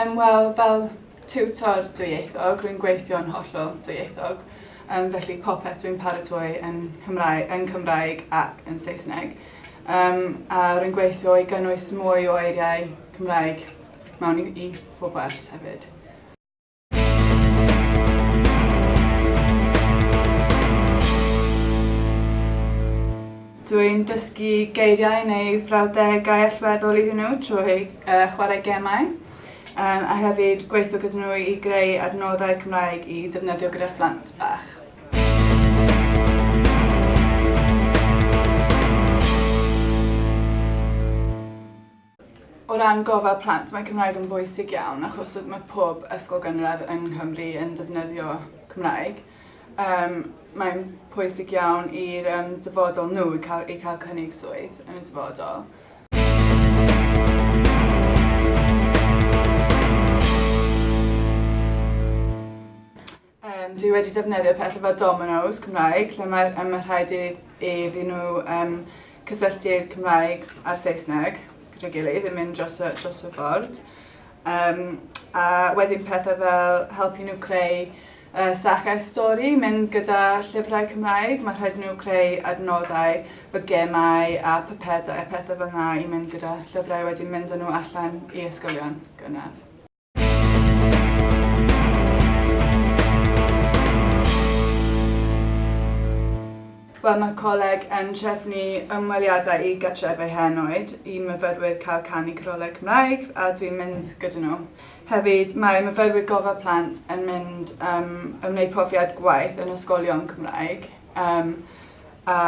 Um, Wel, fel tiwtor dwyieithog, rwy'n gweithio'n hollol dwyieithog, um, felly popeth dwi'n paratoi yn, Cymraeg, yn Cymraeg ac yn Saesneg. Um, a rwy'n gweithio i gynnwys mwy o eiriau Cymraeg mewn i i pob wers hefyd. Dwi'n dysgu geiriau neu frawddegau allweddol iddyn nhw trwy uh, chwarae gemau um, a hefyd gweithio gyda nhw i greu adnoddau Cymraeg i defnyddio gyda phlant bach. O ran gofal plant mae Cymraeg yn bwysig iawn achos oedd mae pob ysgol gynradd yn Nghymru yn defnyddio Cymraeg. Um, mae'n pwysig iawn i'r um, dyfodol nhw i cael, i cael cynnig swydd yn y dyfodol. Yym, dwi wedi defnyddio pethau fel Domino's Cymraeg, lle mae um, ma rhaid i, iddyn nhw um, cysylltu'r Cymraeg a'r Saesneg gyda'i gilydd, yn mynd dros y, dros y ffordd. Um, a wedyn pethau fel helpu nhw creu uh, sachau stori, mynd gyda llyfrau Cymraeg, mae rhaid nhw creu adnoddau fy gemau a papedau a pethau fel yna i mynd gyda llyfrau wedyn mynd â nhw allan i ysgolion gynradd. Wel, mae'r coleg yn trefnu ymweliadau i gartrefau henoed i myfyrwyr cael canu codoleg Cymraeg a dwi'n mynd gyda nhw. Hefyd, mae myfyrwyr gofal plant yn mynd um, yn gwneud profiad gwaith yn ysgolion Cymraeg. Um, a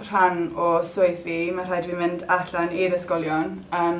rhan o swydd fi, mae rhaid fi mynd allan i'r ysgolion um,